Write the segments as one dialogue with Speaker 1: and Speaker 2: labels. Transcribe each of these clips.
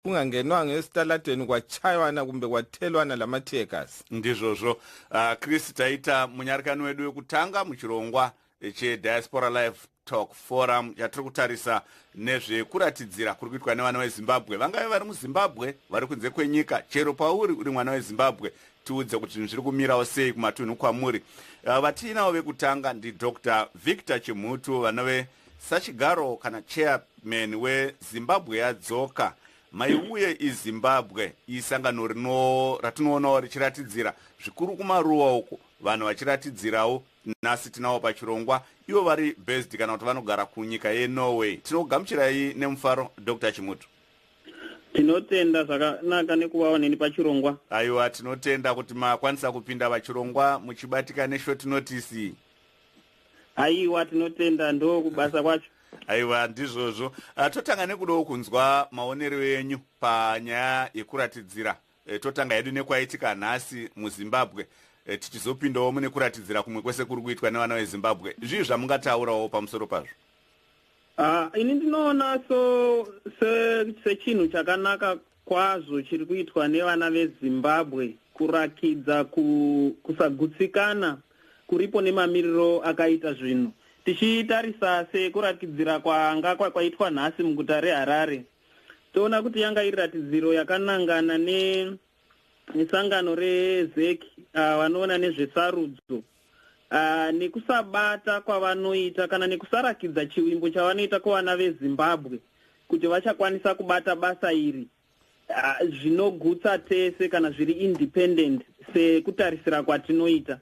Speaker 1: kungangenwa ngesitalateni kwachaiwana kumbe kwatelwana lamatekas ndizvozvo
Speaker 2: uh, chris taita munyarikani wedu wekutanga muchirongwa chediaspora life talk forum yatiri kutarisa nezvekuratidzira kuri kuitwa nevana vezimbabwe vangave vari muzimbabwe vari kunze kwenyika chero pauri uri mwana wezimbabwe tiudze kuti zvinhu zviri kumirawo sei kumatunhu kwamuri uh, vatiinawo vekutanga ndidr victor chimhutu vanove uh, Sachigaro kana chairman weZimbabwe yadzoka maiuye izimbabwe isangano rino ratinoonawo richiratidzira zvikuru kumaruwa uku vanhu vachiratidzirawo nhasi tinawo pachirongwa ivo vari based kana kuti vanogara kunyika yenorway tinogamuchirai nemufaro dr chimutu tinotenda
Speaker 3: zvakanaka nekuvawo neni pachirongwa aiwa tinotenda
Speaker 2: kuti makwanisa kupinda vachirongwa muchibatika neshort notice
Speaker 3: aiwa tinotenda ndo kubasa kwacho aiwa ndizvozvo
Speaker 2: ah, totanga nekudawo kunzwa maonero enyu panyaya yekuratidzira eh, totanga hedu nekwaitika nhasi muzimbabwe eh, tichizopindawo mune kuratidzira kumwe kwese kuri kuitwa nevana vezimbabwe zvii zvamungataurawo pamusoro pazvo ah,
Speaker 3: ini ndinoona so sechinhu chakanaka kwazvo chiri kuitwa nevana vezimbabwe kurakidza kusagutsikana kuripo nemamiriro akaita zvinhu tichitarisa sekuratidzira kwanga kwakaitwa nhasi muguta reharare toona kuti yanga iri ratidziro yakanangana nesangano rezec ah, vanoona nezvesarudzo uh, nekusabata kwavanoita kana nekusarakidza chivimbo chavanoita kuvana vezimbabwe kuti vachakwanisa kubata basa iri uh, zvinogutsa tese kana zviri independent sekutarisira kwatinoita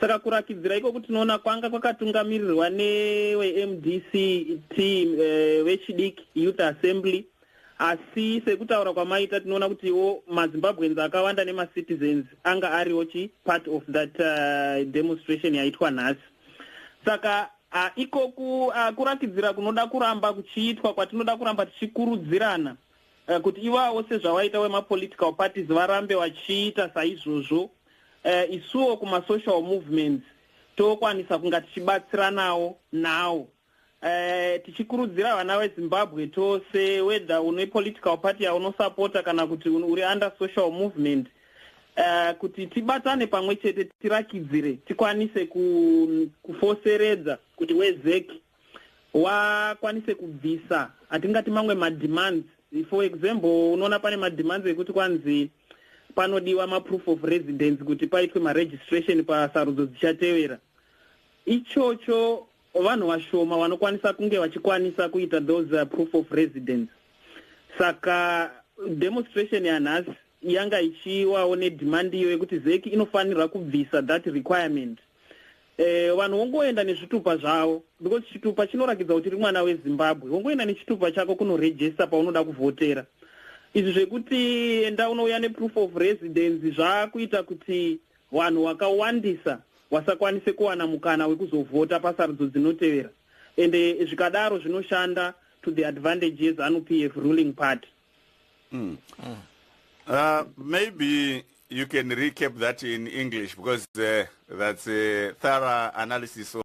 Speaker 3: saka kurakidzira ikoko tinoona kwanga kwakatungamirirwa newemdc team eh, vechidiki uh, youth assembly Asi sekutaura kwamaita tinoona kutiwo maZimbabweans akawanda nemacitizens anga ariwo chi part of that uh, demonstration yaitwa nhasi. Saka uh, ikoku uh, kurakidzira kunoda kuramba kuchiitwa kwatinoda kuramba tichikurudzirana uh, kuti ivawo sezvawaita wemapolitical parties varambe vachiita saizvozvo uh, isuwo kumasocial movements tokwanisa kunga tichibatsiranawo nawo Eh, tichikurudzira vana vezimbabwe tose whether une political party yaunosapota kana kuti uri under social movement uh, kuti tibatane pamwe chete tirakidzire tikwanise kufoseredza kuti wezec wakwanise kubvisa hatingati mamwe mademands for example unoona pane mademands ekuti kwanzi panodiwa maproof of residence kuti paitwe maregistration pasarudzo dzichatevera ichocho vanhu vashoma vanokwanisa kunge vachikwanisa kuita those uh, proof of residence saka demonstration yanhasi yanga ichiwawo nedhimandi iyo yekuti zeki inofanirwa kubvisa that requirement eh, vanhu wongoenda nezvitupa zvavo because chitupa chinorakidza kuti ri mwana wezimbabwe wongoenda nechitupa chako kunorejesta paunoda kuvhotera izvi zvekuti enda unouya neproof of residence zvakuita kuti Vanhu wakawandisa wasakwanise kuwana mukana wekuzovhota pasarudzo dzinotevera ende zvikadaro zvinoshanda to the advantage yezanu p f ruling party
Speaker 2: mm. Mm. Uh, maybe you can recap that in english because uh, that's a thorough analysis of